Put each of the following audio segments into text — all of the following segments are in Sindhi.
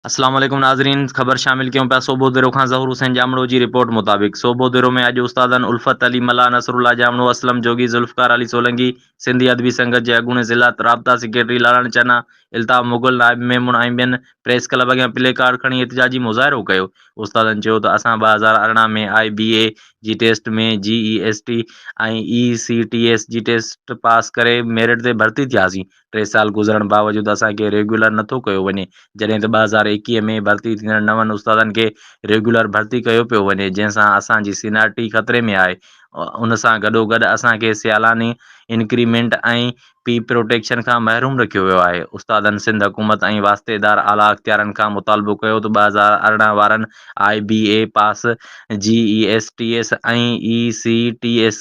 اسلام عليڪم ناظرين خبر شامل ڪيون پيا سوڀو ديرو کان ظهور حسين ڄامڙو جي رپورٽ مطابق سوڀو ديرو ۾ اڄ استادن الفت علي ملاح نصر الله ڄامڙو اسلم جوڳي ذوالفقار علي سولنگي سنڌي ادبي سنگت جي اڳوڻي ضلع رابطا سيڪريٽري لاڙاڻي چنا الطاف مغل نائب ميمڻ ۽ ٻين پريس ڪلب اڳيان پلي ڪارڊ کڻي احتجاجي مظاهرو ڪيو استادن چيو ته اسان ٻه هزار ارڙهن ۾ آء بي اي جي ٽيسٽ ۾ G A S T ۽ A C T S جي ٽيسٽ پاس ڪري ميرٽ تي ڀرتي ٿياسين ٽي سال گذرڻ باوجود اسان کي ريگيولر نٿو ڪيو وڃي، جڏهن ته ٻه هزار ايڪيهه ۾ ڀرتي ٿيندڙ نون استادن کي ريگيولر ڀرتي ڪيو پيو وڃي، جنهن سان اسان جي سينئارٽي خطري ۾ آهي، ان سان گڏوگڏ اسان کي سيالاني انڪريمينٽ ۽ پي پروٽيڪشن کان محروم رکيو ويو آهي، استادن سنڌ حڪومت ۽ واسطيدار اعليٰ اختيارين کان مطالبو ڪيو ته ٻه هزار ارڙهن وارن I B A pass, G A S T S ۽ A C T S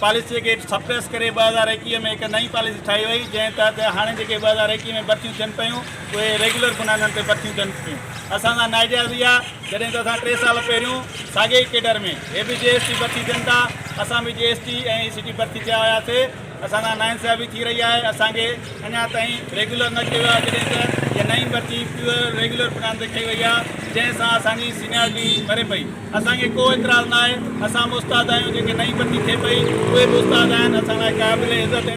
پاليسيء کي سپريس ڪري ٻه هزار ايڪيهه ۾ هڪ نئين پاليسي ٺاهي وئي جنهن تحت هاڻي جيڪي ٻه هزار ايڪيهه ۾ ڀرتيون ٿين پيون اهي ريگيولر بنادن تي ڀرتيون ٿين پيون اسان سان ناجائز هئي آهي جڏهن ته اسان ٽي سال پهريون ساڳي ئي ڪيڊر ۾ هي به جي ايس ٽي ڀرتي ٿين ٿا اسان به جي ايس ٽي ۽ اي سي ٽي ڀرتي ٿيا هياسي اسان سان ناانصافي ٿي رهي آهي اسان کي اڃا تائين ريگيولر نه ڪيو آهي جڏهن ته هيء نئين ڀرتي پيور ريگيولر بنادن تي ڪئي وئي آهي جنهن سان اسانجي سينيارٽي مري پئي اسان کي ڪو اعتراض ناهي، اسان به استاد آهيون، جيڪي نئين پني کيپئي اهي به استاد آهن، اسان لاء قابل عزت